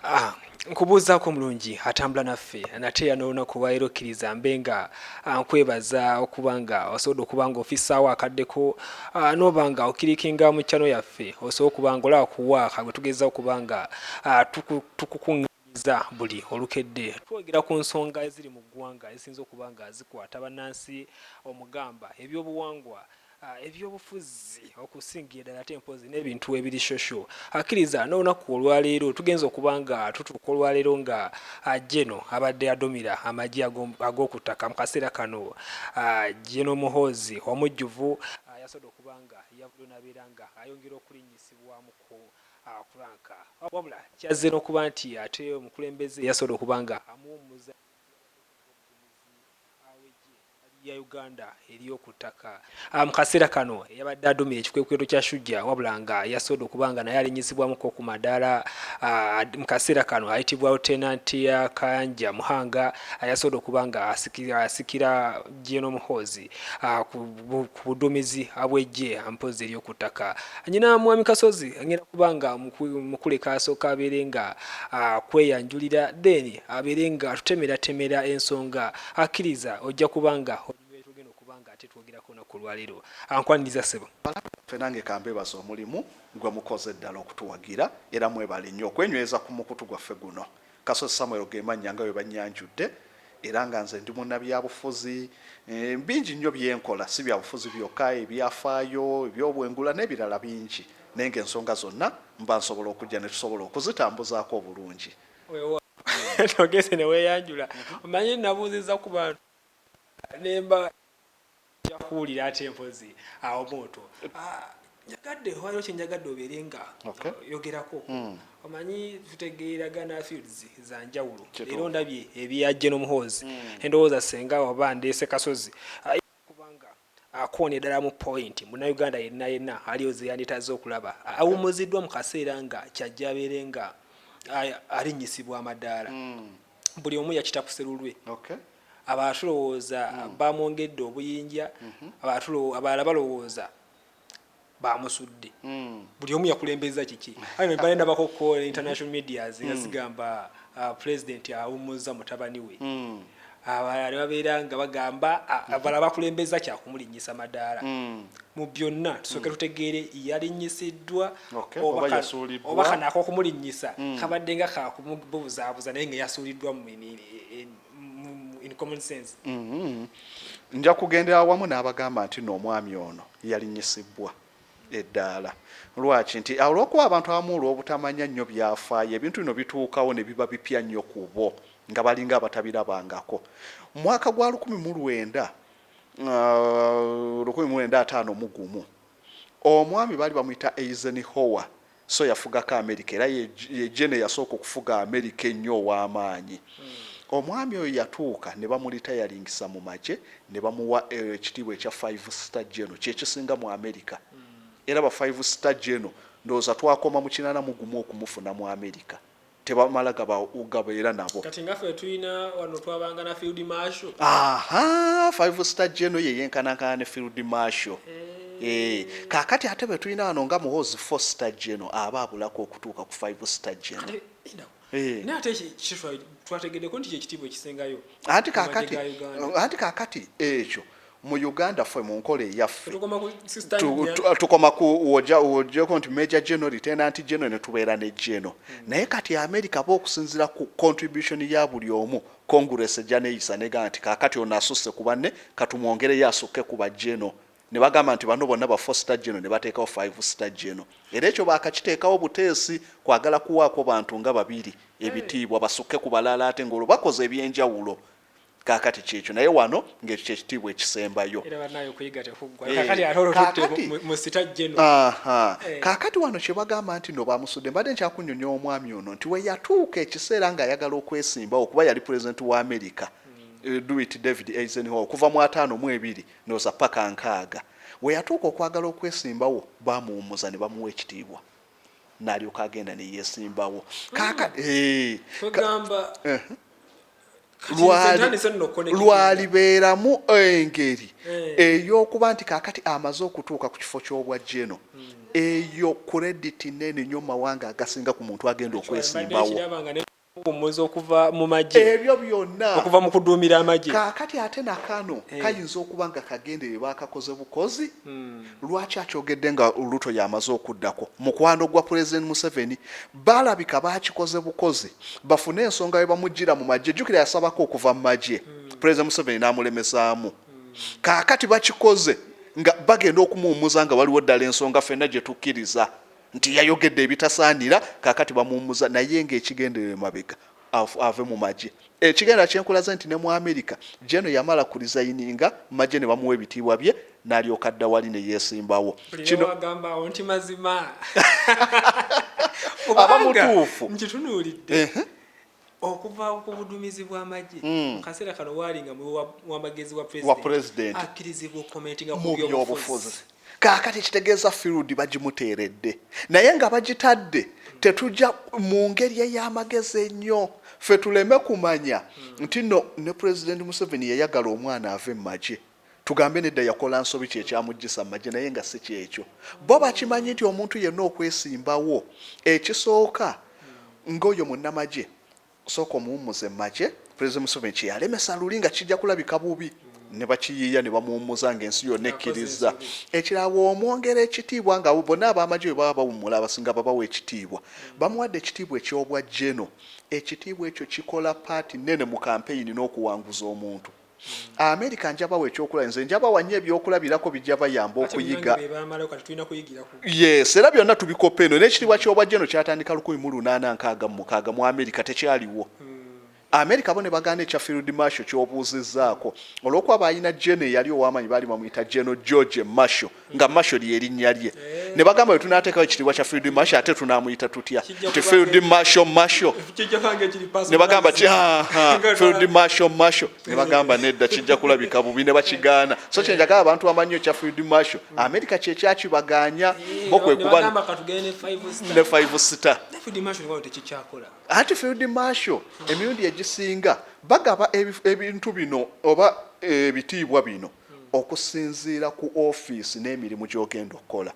Ah, nkubuuzaako omulungi atambula naffe nate era n'olunaku olwaleero okkiriza mbe nga ah, nkwebaza okuba nga osobodde okuba nga ofissaawo akaddeko ah, n'oba nga okirikinga mu chano yaffe osobola okuba nga olaba kuwaaka gwe tugeza okuba nga ah, tuku- tukukuŋŋaanyiza buli olukedde twogera ku nsonga eziri mu ggwanga ezisinza okuba nga zikwata bannansi omugamba ebyobuwangwa eby'obufuzi okusingira ddala ate mpozi n'ebintu ebiri shosho akkiriza n'olunaku olwaleero tugenza okuba nga tutuuka olwaleero nga jeno ah, abadde adumira amagye ag'oku ttaka mu kaseera kano jeno ah, muhoozi omujjuvu ah, yasobodde okuba nga yavuddeyo n'abeera nga ayongera okulinnyisibwamu ku kuranka wabula kyazze n'okuba nti ate omukulembeze yasobodde okuba nga amuwummuza Hali ya Uganda eriyo ku ttaka. Mu kaseera kano eyabadde aduumira ekikwekweto kya Shujja wabula nga yasoodde okuba nga naye alinnyizibwamuko ku madaala mu kaseera kano ayitibwa Lieutenant Kayanja Muhanga yasoodde okuba nga asikira General Muhoozi ku buduumizi bw'eggye mpozzi ery'oku ttaka. Nnyina Mwami Kasozi agenda kuba nga mukuleka asooke abeere nga akweyanjulira then abeere ng'atutemeratemera ensonga Akkiriza ojja kuba nga oli mu byetugenda okuba nga ate twogerako olunaku olwaleero. Ankwaniriza ssebo. Banaku baffe nange kambebaze omulimu gwemukoze ddala okutuwagira era mwebale nnyo okwenyweza ku mukutu gwaffe guno. Kasozi Samuel gemannya nga bwebannyanjudde era nga nze ndi munnabyabufuzi. Bingi nnyo byenkola si byabufuzi byokka, ebyafaayo, ebyobwengula nebirala bingi naye nga ensonga zonna mba nsobola okujja netusobola okuzitambuzaako obulungi. togese neweyanjula omanyi nabuuziza ku bantu nemba jakuwulira ate mpozi awo muntu ah, njagadde waliwo kyenjagadde obeere nga yogerako hmm. omanyi tutegeeragana fields za njawulo leero ndabye ebya geno muhoozi hmm. endowooza senga oba ndeese kasozi ah, kubanga akoonye ddala mu point munnayuganda yenna yenna aliyo zeyanditaze okulaba awummuziddwa mu kaseera nga kyajja abeere nga alinnyisibwa amadaala hmm. buli omu yakita ku serulwe abalala tulowooza hmm. bamwongedde obuyinja hmm. abalala balowooza bamusudde buli omu yakulembeza kiki anyway balina bakoko international medias nga zigamba uh, president awummuzza mutabani we abalala ne babeera nga bagamba abalala bakulembeza kyakumulinnyisa madaala mu byonna tusooke tutegeere yalinyisiddwa Okay, oba oba ka- yasuuliddwa. oba kano ak'okumulinnyisa kabadde nga kakumubuzaabuza naye nga yasuuliddwa mu mini- e- e- in common sense mm -hmm. nja kugendera awamu n'abagamba nti no omwami ono yalinyisibbwa eddaala lwaki nti olwokuba abantu abamu olwobutamanya nnyo byafaayo ebintu bino bituukawo ne biba bipya nnyo ku bo nga balinga abatabirabangako mwaka gwa lukumi mu lwenda uh, lukumi mu lwenda ataano mu gumu omwami baali bamuyita eizen howa Sso yafugako Amerika era ye Gen. Eyasooka okufuga Amerika ennyo ow'amaanyi. Omwami oyo yatuuka ne bamulitayaringisa mu magye ne bamuwa ekitiibwa ekya Five Star General, kye kisinga mu Amerika. Era ba Five Star General ndowooza twakoma mu kinaana mu gumu okumufuna mu Amerika. tebamala gaba gabeera nabo kati nga ffe tulina wano twabanga na field marshal aha five star geno ye yenkanankana ne field marshal Hey. Eh, kakati ate betulina wano nga muhoozi four star geno aba abulako okutuuka ku five star geno eh. naye ate twategedeko nti kyekitiibwa ekisingayo anti kakati ekyo mu Uganda fwe mu nkola eyaffe tukoma ku wojeko nti major general lieutenant general ne tubeera ne general hmm. naye kati America ba okusinzira ku contribution ya buli omu congress ejja neyisa negamba nti kakati ono asusse ku banne katumwongereyo asukke ku ba general ne bagamba nti bano bonna ba four star general ne bateekawo five star general era ekyo baakakiteekawo buteesi kwagala kuwaako bantu nga babiri ebitiibwa basukke ku balala ate ng'olwo bakoze ebyenjawulo Kaakati ky'ekyo, naye wano, nga ekyo kye kitiibwa ekisembayo. Era bannaaye, okuyiga tekuggwa. Eh, kaakati ate olwo tutte mu sita jeno. Eh. Kaakati wano kye bagamba nti no baamusudde, mbadde nkyakunnyonnyoa omwami ono nti we yatuuka ekiseera nga ayagala okwesimbawo kuba yali pulezidenti wa Amerika Eh, do it david eisenhower okuva mu ataano mu ebiri noza paka nkaaga weyatuuka okwagala okwesimbawo bamuwumuza ne bamuwa ekitiibwa nalyoka agenda neyesimbawo lwalibeeramu engeri eh. eyokuba nti kakati amaze okutuuka ku kifo kyobwa jeno hmm. eyo kurediti nene nyo mumawanga agasinga ku muntu agenda okwesimbawo Okuwummuza okuva mu magye. Ebyo byonna. Okuva mu kuduumira amagye. Kaakati ate na kano kayinza okuba nga kagenderere baakakoze bukozi. Lwaki akyogedde nga Ruto y'amaze okuddako? Mukwano gwa Pulezidenti Museveni. Balabika baakikoze bukozi bafune ensonga we bamuggyira mu magye. Jjukira yasabako okuva mu magye Pulezidenti Museveni n'amulemesaamu. Kaakati bakikoze nga bagenda okumuwummuza nga waliwo ddala ensonga ffenna gye tukkiriza. nti yayogedde ebitasaanira kakati bamuwumuza naye ng'ekigendero emabega ave mu magye ekigendera kyenkulaze nti ne mu amerika jeno yamala ku rizayininga magye ne bamuwa ebitiibwa bye n'alyoka dda wali ne yeesimbawo kinoagambaawo nti mazima aba mutuufu nkitunuulidde Okuva ku budumizi bw'amagye mu kaseera kano waali nga muwi wa magezi wa Pulezidenti akkirizibwa okukomentinga ku byobufuzi. Kaakati ekitegeeza field bagimuteeredde naye nga bagitadde tetugya mu ngeri ey'amagezi ennyo ffe tuleme kumanya nti nno ne Pulezidenti Museveni yayagala omwana ave mu magye. Tugambe nedda yakola nsobi kyekyamujjisa mumagye naye nga sikyekyo bo bakimanyi nti omuntu yenna okwesimbawo ekisooka nga oyo munamagye sooka omuwummuze mumagye president museveni kyeyalemesa luli nga kijja kulabika bubi nebakiyiiya nebamuwummuza nga ensi yonna ekkirizza ekirala bwomwongera ekitiibwa nga bona abamagye bwe baba bawummula abasinga babawa ekitiibwa bamuwadde ekitiibwa ekyobwa geno ekitiibwa ekyo kikola paati nene mu kampeyini n'okuwanguza omuntu Hmm. America nja bawa ekyokulaba nze nja bawa nnyo ebyokulabirako bijja bayamba okuyiga yes era byonna tubikopa eno n'ekitiibwa ky'obwajja eno kyatandika lukumi mu lunaana nkaaga mu mukaaga mu america tekyaliwo hmm. america bo ne bagaana ekya field marshal ky'obuuzizzaako olw'okuba baalina gene eyali ow'amaanyi baali bamuyita geno george marshal nga masho lyerinnya lye eh. ne bagamba bwe tunateekawo ekitiibwa kya field masho ate tunamuyita tutya nti field masho masho ne bagamba ti field masho masho ne bagamba nedda kijja kulabika bubi ne bakigaana so kyenjagala abantu bamanyi ekya field masho hmm. amerika kyekyakibaganya eh, bo kwe kuba ne five star ati field masho emirundi egisinga bagaba ebintu bino oba ebitiibwa bino okusinziira ku ofiisi n'emirimu gy'ogenda okukola.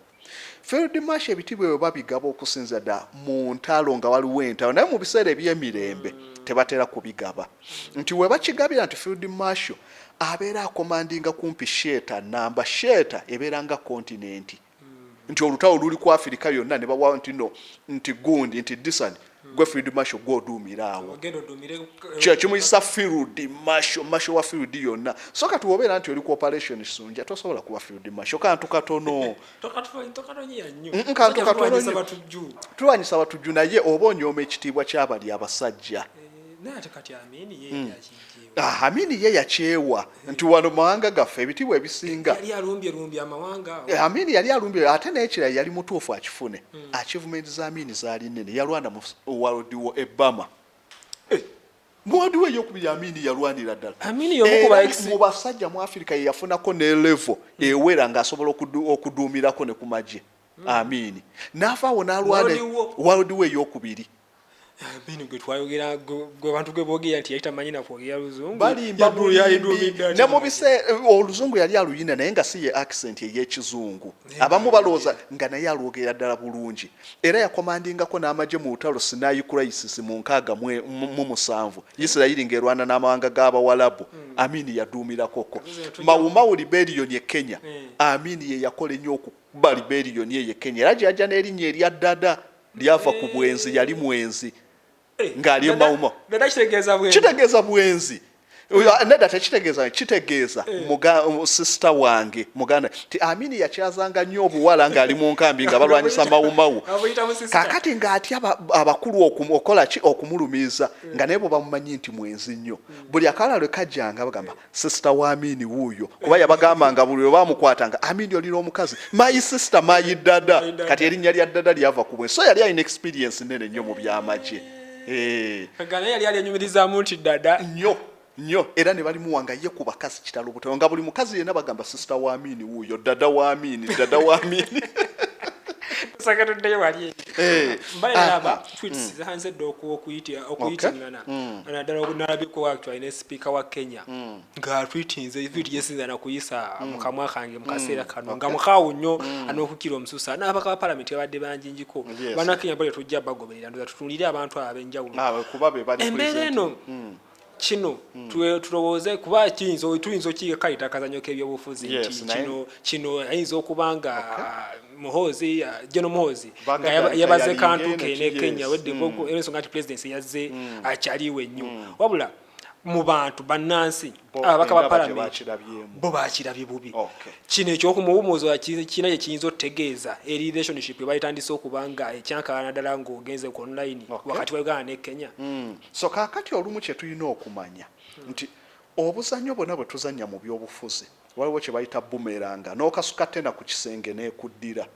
Field Marshal ebitiibwa ebyo babigaba okusinziira ddala mu ntalo nga waliwo entalo naye mu biseera eby'emirembe tebatera kubigaba nti we bakigabira nti Field Marshal abeera akomandinga kumpi sheeta nnamba. Sheeta ebeera nga kontinenti. nti olutawo luli ku afirika yonna ne bawa nti no nti gundi nti disani hmm. gwe field masho gwe oduumira awo kyo kimuyisa field masho masho wa field yonna so kati wobeera nti oli ku operation sunja tosobola kuba field masho kantu katono kantu katono tulwanyisa batujju naye oba onyooma ekitiibwa kyabali abasajja eh, hmm. Ah, Amin ye yakyewa nti wano mawanga gaffe ebitiibwa ebisinga. Yali alumbye lumbye amawanga. Eh, Amin yali alumbye ate n'ekirala yali mutuufu akifune. Hmm. Achievement za Amin zaali nene yalwana mu World War e Burma. Eh, mu World War eyokubiri Amin yalwanira ddala. Amin y'omu ku eh, mu basajja mu Afirika ye yafunako ne level hmm. ewera ng'asobola okuduumirako ne ku magye. Hmm. Amin n'avaawo n'alwana World War eyokubiri. bino gwe twayogera gwe bantu gwe boogera nti yali tamanyi nakwogera luzungu ne mu biseera eh, oluzungu yali aluyina naye nga si ye accent ey'ekizungu abamu balowooza nga naye alwogerera ddala bulungi era yakomandingako n'amagye mu lutalo sinayi crisis mu nkaaga mu musanvu isirayiri ng'erwana n'amawanga g'abawalabu hmm. amini yaduumirakoko mawumawu liberiyoni e kenya hmm. amini ye yakola ennyo okuba liberiyoni eyo e kenya era gye yajja n'erinnya erya ddada lyava ku bwenzi yali mwenzi eh, ng'ali emawuma kitegeeza bwenzi eh. nedda tekitegeeza kitegeeza eh. sisita wange muganda ti amini yakyazanga nnyo obuwala ng'ali mu nkambi nga balwanyisa mawumawu kakati ng'atya abakulu okukola ki okumulumiiza nga naye bwe bamumanyi nti mwenzi nnyo hmm. buli akala lwe kajjanga bagamba sister wa Amini wuuyo kuba yabagamba nga buli lwebamukwata nga Amini oli n'omukazi my sister my dada kati erinnya lya dada lyava ku bwe so yali alina experience nene nnyo mu byamagye eh. gana yali ali enyumirizamu nti dada nnyo nnyo era ne balimuwa nga ye ku bakazi kitalo buteo nga buli mukazi yenna bagamba sister wa Amini wuuyo dada wa Amini dada wa Amini sagala oddeyo wali eh. mbalaba ah, ah. tweets mm. zanze dda okuyitira okuyitingana mm. naddala okunalabiko actually ne sipiika wa kenya mm. nga tweetinze mm. tweet gyesinza nakuyisa mm. mu kamwa kange mu kaseera mm. kano okay. nga mukaawu nnyo mm. an'okukira omususa n'abaka ba palamenti babadde banjinjiko yes. banakenya bali tujja bagoberera ndoza tutunulire abantu abo abenjawulo ah, embeera eno mm. kino mm. tulowooze kuba kiyinza tuyinza okiyiga kayita akazanyo k'ebyobufuzi yes, nti kino kino ayinza okuba nga okay. Ah, muhoozi ah, geno muhoozi nga yabaze kantu kene kenya wedde mm. ensonga nti pulezidenti yazze mm. akyaliwo ennyo mm. wabula mu bantu bannansi ababaka ba palamenti bo bakirabye bubi kino ekyokumuwumuzo kirina kye kiyinza otutegeeza eri relationship ebayitandise okuba nga ekyankalana ddala ng'ogenze ku online wakati wa uganda ne kenya so kakati olumu kyetulina okumanya nti obuzanyo bwona bwetuzanya mu byobufuzi waliwo kyebayita bumeranga nokasuka tena ku kisenge nekuddira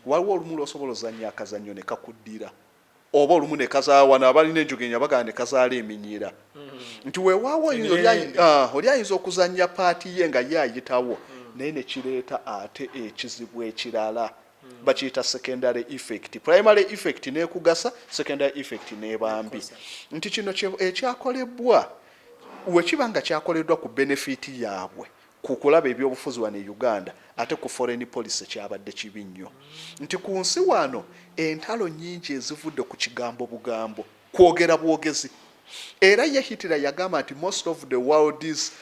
waliwo olumu lwosobola ozanya akazanyo nekakuddira oba olumu nekazaala wano abalina enjogenya bagala nekazaala eminyira mm-hmm. nti wewaawo ah, oli ayinza okuzanya paati ye nga ye ayitawo mm. naye nekireeta ate ekizibu ekirala bakiyita secondary effect primary effect nekugasa secondary effect nebambi nti kino ekyakolebwa wekiba nga kyakoleddwa ku benefit yaabwe ku kulaba ebyobufuzi wano e uganda ate ku foreign policy kyabadde kibi nnyo nti ku nsi wano entalo nyingi ezivudde ku kigambo bugambo kwogera bwogezi era ye hitler yagamba nti most of the world is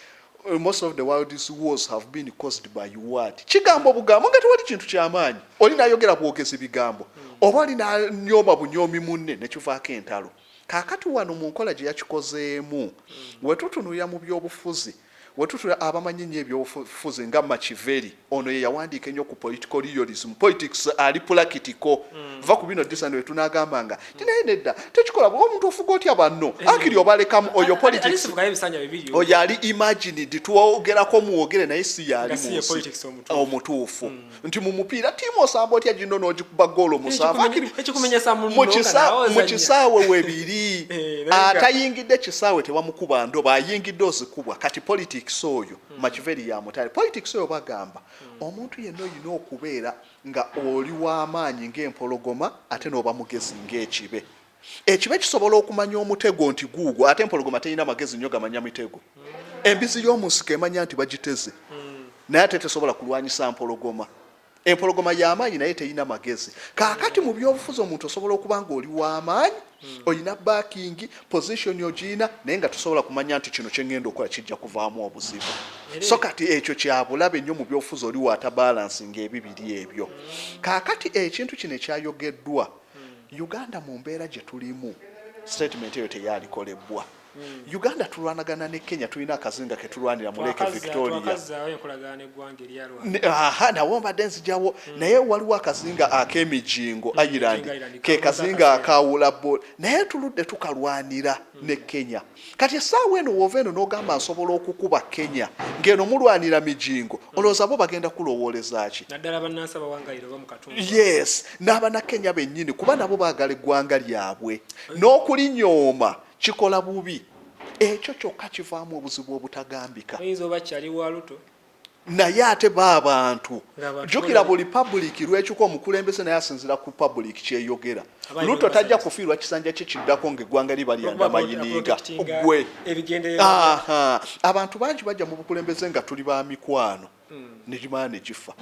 Uh, most of the world's wars have been caused by word kigambo bugambo nga tewali kintu kyamaanyi oli nayogera bwogezi bigambo hmm. oba oli nanyooma bunyoomi munne nekivaako entalo kakati wano mu nkola gye yakikozeemu hmm. wetutunuya mu byobufuzi Wetutula abamanyi ennyo ebyobufuzi nga Machivelli, ono yeyawandiika ennyo ku political realism, politics ali pulakitiko, vva ku bino ddisa nti wetunagamba nga nti naye nedda tekikola bwe, omuntu ofuga otya banno, akiri obalekamu, oyo politics oyo ali imagined, twogerako mwogere naye si yaali munsi omutuufu. nti mu mupiira tiimu osamba otya ginno n'ogikuba goolo musanvumu kisaawe webiri eh, atayingidde kisaawe tewamukuba ndoba ayingidde ozikubwa kati politics oyo hmm. makiveri yamutale politics oyo bagamba hmm. omuntu yenna olina okubeera nga oli w'amaanyi ng'empologoma ate n'oba mugezi ng'ekibe Ekibe kisobola okumanya omutego nti guugwo ate empologoma terina magezi nnyo gamanya mitego. Embizzi y'omu nsiko emanya nti bagiteze naye ate tesobola kulwanyisa mpologoma. Empologoma ya maanyi naye terina magezi. Kaakati mu byobufuzi omuntu osobola okuba ng'oli wa maanyi, olina baakingi, pozishoni ogirina naye nga tosobola kumanya nti kino kye ŋŋenda okukola kijja kuvaamu obuzibu. So kati ekyo kya bulabe nnyo mu byobufuzi oli waatabalansinga ebibiri ebyo. Kaakati ekintu kino ekyayogeddwa hmm. uganda mu mbeera gye tulimu statement eyo teyalikolebwa hmm. uganda tulwanagana ne kenya tulina akazinga ketulwanira muleke victoria nawo mbadde nzijawo hmm. naye waliwo akazinga ak'emijingo ireland ke kazinga akawula naye tuludde tukalwanira ne kenya kati esaawa eno wova eno nogamba nsobola okukuba kenya ngeno mulwanira mijingo hmm. olowooza bo bagenda kulowoolezaki yes n'abana kenya bennyini kuba nabo baagala eggwanga lyabwe hmm. n'okulinyooma kikola bubi ekyo kyokka kivaamu obuzibu obutagambika naye ate ba abantu jukira buli public lwekyuka omukulembeze naye asinzira ku public kyeyogera luto tajja kufiirwa kisanja kye kiddako ngaeggwanga liba lyanda mayiniga gwe abantu bangi bajja mu bukulembeze nga tuli ba mikwano hmm. negimala negifa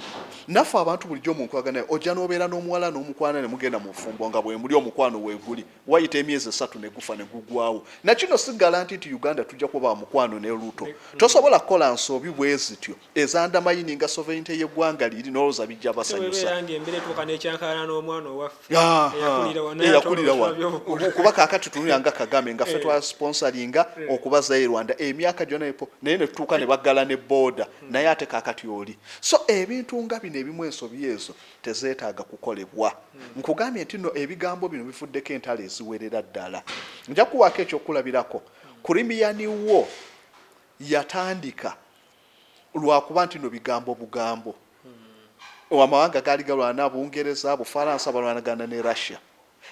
naffe abantu bulijjo omunkwaganaye ojja nobeera n'omuwala n'omukwana ne mugenda mu bufumbo nga bwemuli omukwano weguli Wayita emyezi esatu ne gufa ne gugwawo. Na kino si galanti nti Uganda tujja kuba ba mukwano ne Ruto. Tosobola kukola nsobi bwe zityo ezandamayininga sovereignty y'eggwanga liri n'olowooza bijja basanyusa. Tewebeera ng'embira etuuka n'ekyankalana n'omwana owaffe eyakulira wano naye ate olwo tulabye obukulu. Kuba kaakati tunulira nga Kagame nga ffe twa sponsoringa okubazaayo e Rwanda emyaka gyonna ne naye ne tutuuka ne baggala ne booda naye ate kaakati oli. So ebintu nga bino ebimu ensobi ezo tezeetaaga kukolebwa. Nkugambye nti nno ebigambo bino bivuddeko entalo eziwerera ddala. Nja kuwaako ekyokulabirako. Kurimiyani wo yatandika lwakuba nti nno bigambo bugambo. Amawanga gaali galwana, Bungereza, Bufaransa balwanagana ne Russia.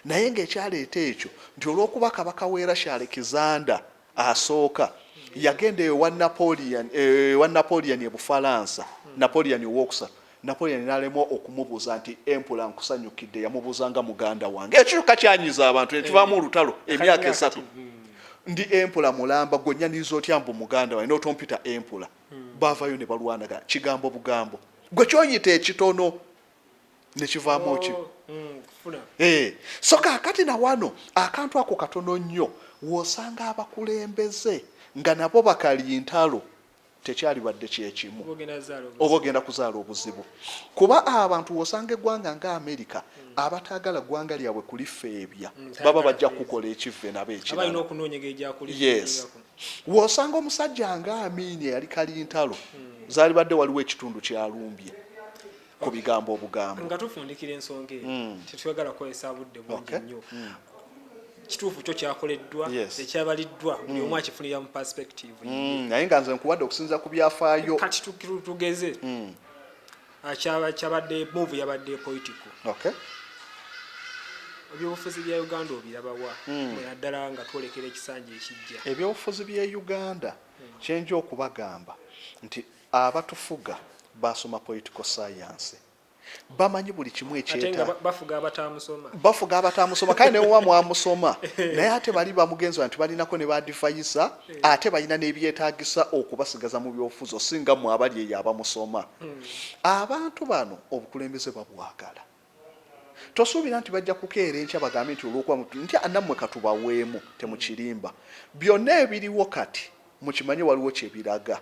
Naye ng'ekyaleeta ekyo nti olw'okuba Kabaka w'e Russia Alexander Asooka yagenda ewa Napoleon, ewa Napoleon e Bufalansa, Napoleon owookusatu, Napoleon n'alemwa okumubuuza nti, Empula nkusanyukidde? Yamubuuza nga muganda wange. Ekyo kyokka kyanyiiza abantu ne kivaamu olutalo emyaka esatu. Ndi Empula mulamba, ggwe onnyaniriza otya mbu muganda wange n'otompita Empula? Baavaayo ne balwanagana kigambo bugambo. Ggwe ky'oyita ekitono nekivaamu oh, ki mm, eh, so kakati nawano akantu ako katono nnyo wosanga abakulembeze nga nabo bakali ntalo tekyalibadde kyekimu oba ogenda kuzaala obuzibu kuba abantu wosanga eggwanga nga amerika mm. abataagala ggwanga lyabwe kulifeebya mm, baba bajja kukukola ekivve nabo ekirayes wosanga omusajja nga amiini eyali kali ntalo zaalibadde waliwo ekitundu kyalumbye ku bigambo obugambo nga tufundikira ensonga eyo mm. tetwagala kukozesa budde bungi nnyo mm. kituufu kyo kyakoleddwa ekyabaliddwa mm. buli omu akifunira mu perspective naye nga nze nkuwadde okusinza ku byafaayo kati tugeze ah, kyabadde move yabadde political ebyobufuzi bya uganda obirabawa naddala nga twolekera ekisanja ekijja ebyobufuzi bya uganda kyenja okubagamba nti Abatufuga baasoma political science. Bamanyi buli kimu ekyeta. Bafuga abataamusoma. Bafuga abataamusoma kale newowa mwamusoma naye ate bali bamugenzi nti balinako ne badivayisa eh. ate balina nebyetagisa okubasigaza mu byofuzo singa mwe abali eyo abamusoma. Hmm. Abantu bano obukulembeze babwagala. Tosuubira nti bajja kukeera enkya bagambe nti olwokuba nti anammwe katubaweemu temukirimba. Byonna ebiriwo kati mukimanye waliwo kyebiraga.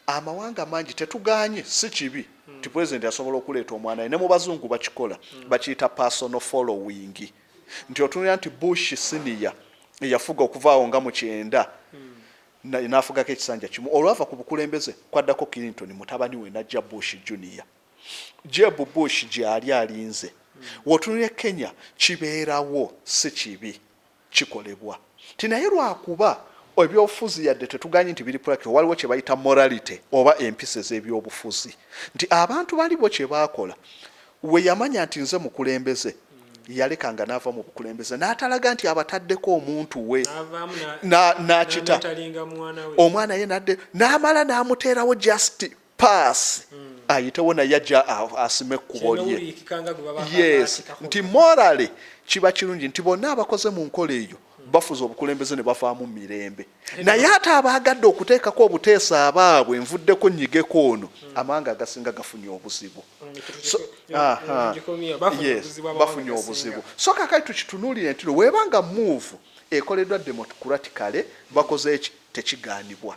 Amawanga mangi tetugaanye si kibi nti president asobola okuleeta omwana we ne mu bazungu bakikola bakiyita personal following nti otunulira nti Bush senior eyafuga okuva awo nga mu kyenda na nafugako ekisanja kimu olwava ku bukulembeze kwaddako Clinton mutabani we najja Bush junior Jeb Bush gyali alinze wotunulira e Kenya kibeerawo si kibi. kikolebwa nti naye lwakuba ebyobufuzi yadde tetuganyi nti biri practical waliwo kyebayita morality oba empisa ezebyobufuzi nti abantu bali bo kyebakola weyamanya nti nze mukulembeze yaleka nga nava mu bukulembeze natalaga nti abataddeko omuntu we nakita omwana ye nadde namala namuteerawo just paasi hmm. ayitewo naye ajja asima ekkubo lye yes nti morale kiba kirungi nti bonna abakoze mu nkola eyo hmm. bafuza obukulembeze ne bafaamu mirembe naye ate abaagadde okuteekako obuteesa abaabwe envuddeko nnyigeko ono hmm. amawanga agasinga gafunye obuzibu bafunye obuzibu so kakati tukitunuulire ntino weebanga muuvu ekoleddwa democraticale bakoze eki tekigaanibwa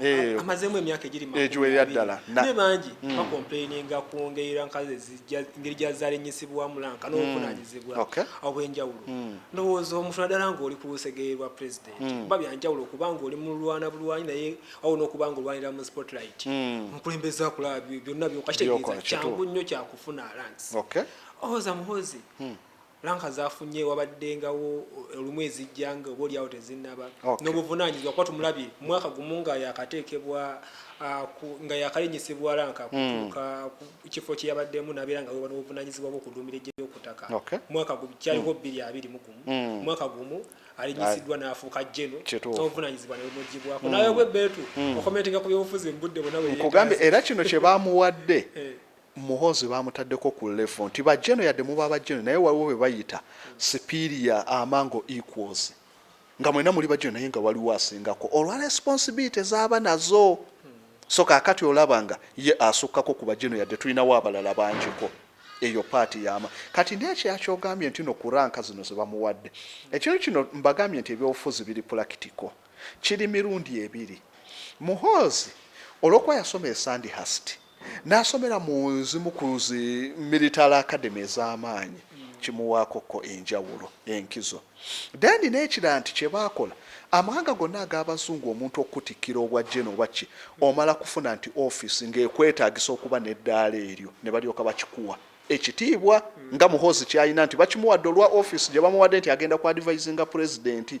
Eh, amazeemu emyaka egigiwerera eh, ddala naye bangi hmm. bakompeininga ku ngeri rankazi ngeri gyazaala ennyisibwamu lanka hmm. n'obuvunaanyizibwa obw'enjawulo hmm. ndowooza omuntu naddala ng'oli ku lusegere lwa pulezidenti kuba byanjawulo okuba ng'oli mu lulwana bulwanyi naye awo n'okuba ng'olwanira mu spotlight omukulembeze akulaba byonna byokakitegeeza kyangu nnyo kyakufuna lansi owoza muhozi Lanka z'afunye wabaddengawo olumu ezijja nga oba olyawo tezinnaba n'obuvunaanyizibwa kuba tumulabye mu mwaka gumu nga yaakateekebwa nga yaakalinnyisibwa lanka kutuuka ku kifo kye yabaddemu n'abeera nga weeba n'obuvunaanyizibwa bw'okuduumira eggye ly'oku ttaka mwaka gumu kyaliko bbiri abiri mu gumu mwaka gumu alinyisiddwa n'afuuka jeno n'obuvunaanyizibwa ne bumugibwako nawe bwe beetu okomentinga ku byobufuzi mu budde bwonna bwe nkugambye era kino kye baamuwadde Muhoozi bamutaddeko ku level nti ba General yadde muba ba General naye waliwo bebayita superior among equals nga mwena muli ba General naye nga waliwo asingako olwa responsibility zaba nazo so kakati olaba nga ye asukkako ku ba General yadde tulinawo abalala bangiko eyo part yama kati nekirala kyogambye ntino ku rank zino zebamuwadde ekintu kino mbagambye nti ebyobufuzi biri practical kiri mirundi ebiri Muhoozi olwokuba yasoma e Sandhurst N'asomera mu zimu ku zi Military Academy ez'amaanyi kimuwaako ko enjawulo, enkizo. Then n'ekirala nti kye baakola, amawanga gonna ag'Abazungu omuntu okukutikkira obwa General oba ki, omala kufuna nti office ng'ekwetaagisa okuba n'eddaala eryo ne balyoka bakikuwa. Ekitiibwa nga Muhoozi ky'alina nti bakimuwadde olwa office gye bamuwadde nti agenda ku advisinga Pulezidenti.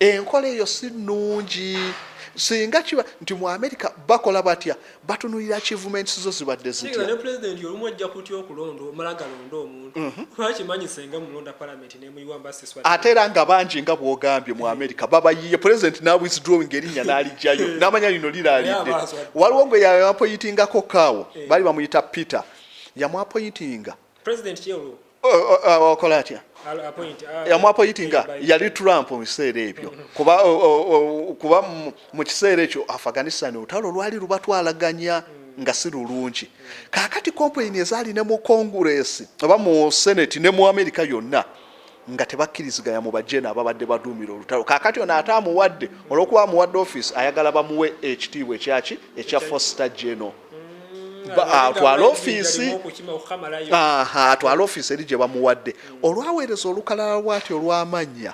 Enkola eyo si nnungi. Singa kiba nti mu Amerika bakola batya, batunulira achievements zo zibadde zitya. Singa ne Pulezidenti olumu ajja kutya okulonda omala galonde omuntu mhm. kuba akimanyi senga mulonda palamenti nemuyiwa mba siswa. Ate era nga bangi nga bwogambye mu Amerika babayiye Pulezidenti na withdrawing erinnya n'alijjayo eh. n'amanya lino liraalidde. Waliwo gwe yapoyitingako kaawo eh. baali bamuyita Peter yamwapoyitinga president kyelu okola atya yamwapoyitinga yali trump mu biseera ebyo kuba kuba mu kiseera ekyo afghanistan olutalo lwali lubatwalaganya nga si lulungi kakati kompeyini ezaali ne mu konguresi oba mu senate ne mu amerika yonna nga tebakkiriziganya mu bajeno ababadde baduumira olutalo kaakati ono ate amuwadde olwokuba amuwadde ofiisi ayagala bamuwe ekitiibwa ekyaki ekya fosta geno atwale ofiisi atwale ofiisi eri gye bamuwadde olwaweereza olukalala lwati olw'amannya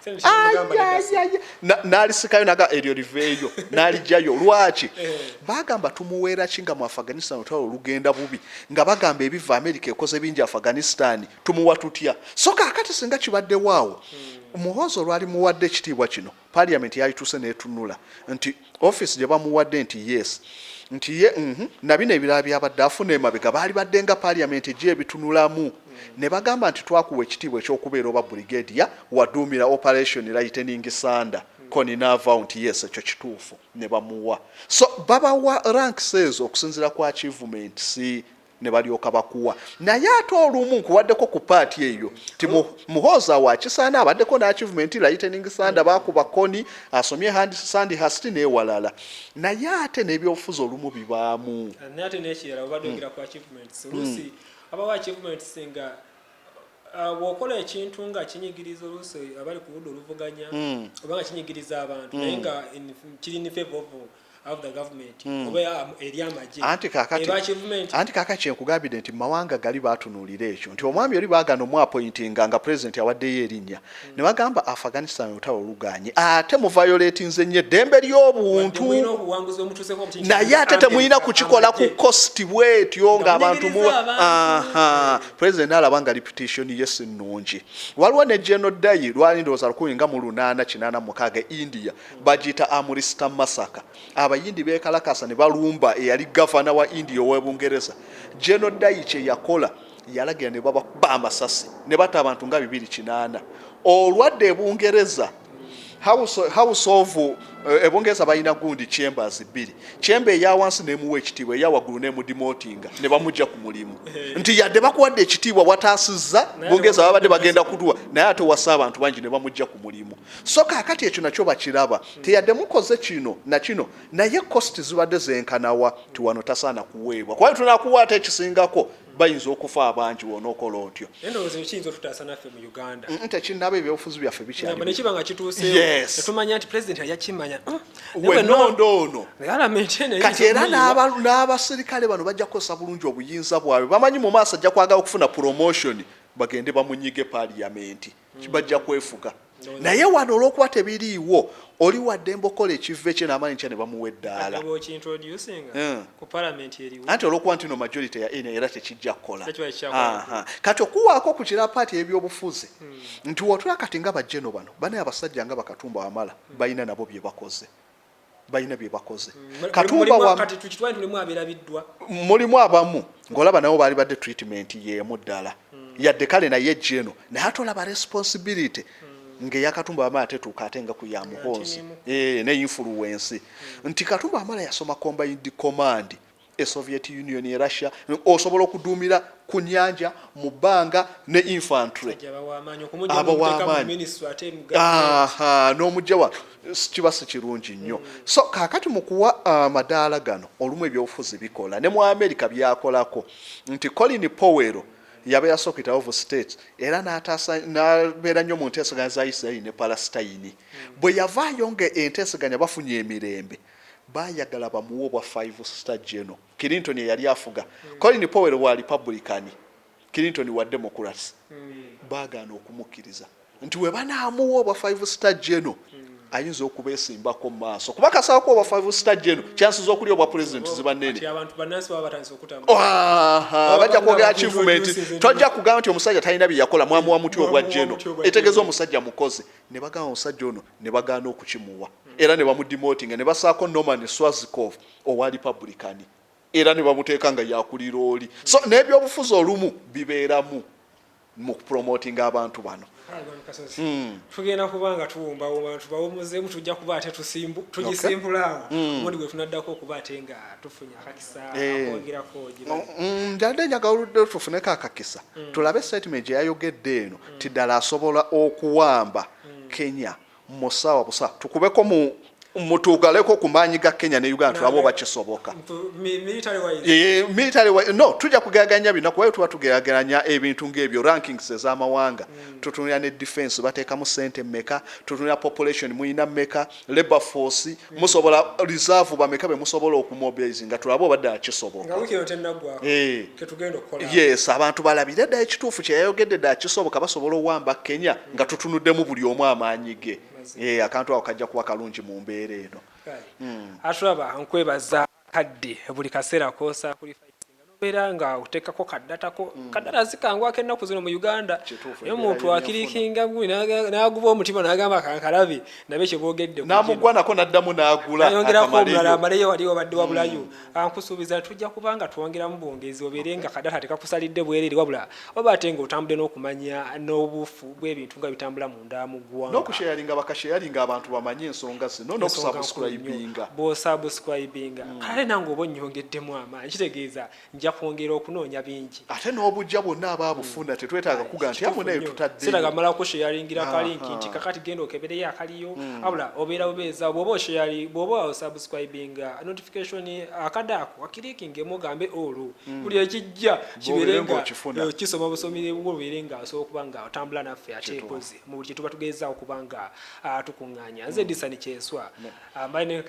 n'alisikayo naga eryo liveeyo n'alijayo lwaki eh. bagamba tumuweera ki nga mu afghanistan olutalo olugenda bubi nga bagamba ebiva amerika ekoze bingi afghanistan tumuwa tutya so kakati singa kibaddewo awo hmm. muhoozi olwali muwadde ekitiibwa kino parliament yalituuse netunula nti office gye bamuwadde nti yes nti ye mhm, nabino ebirala byabadde afuna emabega baali badde nga parliament ejyo ebitunulamu hmm. ne bagamba nti twakuwa ekitiibwa ekyokubeera oba brigadia waduumira operation lightening sanda hmm. koni naavawo nti yes ekyo kituufu ne bamuwa so babawa ranks ezo okusinzira ku achievements ne balyoka bakuwa naye ate olumu nkuwaddeko ku paati eyo ti muhooza wakisaana abaddeko n'akivuma enti lightening sanda bakuba koni asomye handi sandi hasti n'ewalala naye ate n'ebyobufuzi olumu bibaamu naye ate n'ekirala obadde ogera ku achievements hmm. oluusi abawo achievements nga uh, bwokola ekintu nga kinyigiriza oluusi abali ku ludda oluvuganya hmm. oba nga kinyigiriza abantu naye hmm. nga kiri nifevovu Hmm. anti kaka kyenkugambidde nti mumawanga gali batunuulira ekyo nti omwami oli bagana omwapointinga nga pulezidenti awaddeyo erinnya hmm. ne bagamba afghanistan olutalo oluganye ate muvayoletinze nnyo eddembe ly'obuntu naye ate temulina kukikola ku kosti bwetyo ngaabantu pulezidenti alaba nga reputation ye si nnungi waliwo ne geno dayi lwali ndowooza lukumi nga mu lunaana kinaana mukaaga e india bagiyita Amritsar Massacre. Abayindi beekalakaasa ne balumba eyali gavana wa India ow'e Bungereza General Dai kye yakola yalagira ne babakuba amasasi ne batta abantu nga bibiri kinaana. Olwadda e Bungereza House, house of uh, eh, ebungereza balina gundi chambers bbiri chamber eyawansi nemuwa ekitiibwa eyawaggulu nemudimotinga ne bamugya ku mulimu eh. nti yadde bakuwadde ekitiibwa wataasizza bungereza babadde bagenda kutuwa naye ate wasa abantu bangi ne bamugya ku mulimu So kaakati ekyo nakyo bakiraba nti yadde mukoze kino na kino naye cost zibadde zenkana wa nti wano tasaana kuweebwa kuba tunakuwa ate ekisingako bayinza okufa abangi wonokola otyo tekinaba ebyobufuzi byaffe bikyaliwenondoonoati era n'abasirikale bano bajja kukozesa bulungi obuyinza bwabwe bamanyi mu maaso ajja kwagala okufuna promotion bagende bamunyige paliyamenti bajja kwefuga naye wano olwokuba tebiriiwo oli waddembe okukola ekivva ekye namanyi ntya nebamuwa eddaala eh. anti olwokuba ntino majority ya ena era tekijja kukola kati okuwaako ku kira paati ebyobufuzi hmm. nti wotula kati nga bajeno bano banaye abasajja nga bakatumba wamala hmm. balina nabo byebakoze balina bye bakoze katumba wa kati tukitwale tulimu aberabiddwa mulimu abamu ngolaba nabo bali badde treatment yemu ddala mm. yadde kale naye jeno naye atolaba responsibility mm. nge yakatumba amala tetuuka ate nga kuya muhoozi e, ne influence mm. nti katumba amala yasoma combined command e Soviet Union, e Russia, osobola okuduumira ku nyanja mu bbanga ne infantry aba w'amaanyi n'omujja wa kiba si kirungi nnyo. Mm. So kaakati mu kuwa uh, amadaala gano olumu ebyobufuzi bikola ne mu Amerika byakolako nti Colin Powell yaba yasokita of state era n'ataasa n'abeera nnyo mu nteeseganya za Isiraeri ne Palasitayini mm. bwe yavaayo nga enteeseganya bafunye emirembe Baayagala bamuwe obwa five star general. Clinton eyali afuga. Mm. Colin Powell wa Republican. Clinton wa Democrats. Mm. Baagaana okumukkiriza nti we banaamuwa obwa five star general mm. ayinza okubesimbako mu maaso kuba kasaako obwa five star general mm. chances okuli obwa president oh, ziba nene. Bajja kwogera achievement. Tojja kugamba nti omusajja talina bye yakola mwamuwa muti obwa general. Etegeeza omusajja mukozi. Ne bagamba omusajja ono ne bagaana okukimuwa era ne bamudimootinga ne basaako Norman Swazikov owa Lipabulikani era ne bamuteeka nga yakulira oli. So n'ebyobufuzi olumu bibeeramu mu kupromotinga abantu bano. Hmm. tugenda kuba nga tuwumbawumba tubawumuzemu tujja kuba ate tugisimbula awo hmm. omundi gwe tunaddako okuba ate nga tufunye akakisa eh. akwongerako hmm, njadde njagala oludde tufuneko akakisa tulabe statement gye yayogedde eno ti ddala asobola okuwamba Kenya musawa busa tukubeko mu mutugaleko ku maanyi ga Kenya ne Uganda tulabe oba kisoboka. Eh, military wise no tujja kugeraganya bino kuba tuba tugeraganya ebintu ng'ebyo rankings ez'amawanga mm. tutunira ne defense bateekamu sente mmeka tutunira population muyina mmeka labor force musobola reserve bameka be musobola okumobilize nga tulabe oba ddala kisoboka eh. yes abantu balabire ddala ekituufu kyeyayogedde ddala kisoboka basobola owamba kenya nga tutunuddemu buli omu amaanyi ge eh, akantu ako kajja kuba kalungi mu mbeera eno hmm. atulaba nkwebaza kadde buli kaseera kosakulifaisinga nobeera nga otekako kadata ko mm. kadata zikangwako ennaku zino mu uganda naye omuntu akirikinga naguba omutima nagamba kankalabi nabe kyebogedde namugwanako naddamu nagulaayongerako omulala amaleyo wali wabadde mm. wabulayo ah, nkusuubiza tujja kubanga twongeramu bwongezi obeere nga kadata tekakusalidde bwerere wabula oba ate nga otambudde n'okumanya n'obufu bw'ebintu nga bitambulamu munda mu gwanga. Nokusharinga bakasharinga abantu bamanye ensonga zino nokusubscribinga. Bwosubscribinga mm. kale nange oba onyongeddemu amaanyi kitegeeza nja kwongera okunoonya bingi. Ate n'obujja bwonna aba abufuna mm. tetwetaaga kuga nti amu naye tutadde. Siraga mala kusharingira kalinki nti kakati genda okebereyo akaliyo mm. abula obeera bubeeza bwoba oshari bwoba osubscribinga notification akadaako wakirikingemu ogambe olwo buli ekijja kibeere nga eh, okisoma busomi bwo obeere nga osobola okuba nga otambula naffe ate mpozi mu buli kyetuba tugezza okuba nga ah, tukuŋŋaanya nze mm. disani kyeswa ah, mbaye ne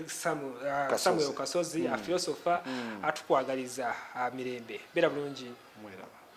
ah, samuel kasozi mm. afilosofa mm. atukwagaliza mirembe beera bulungi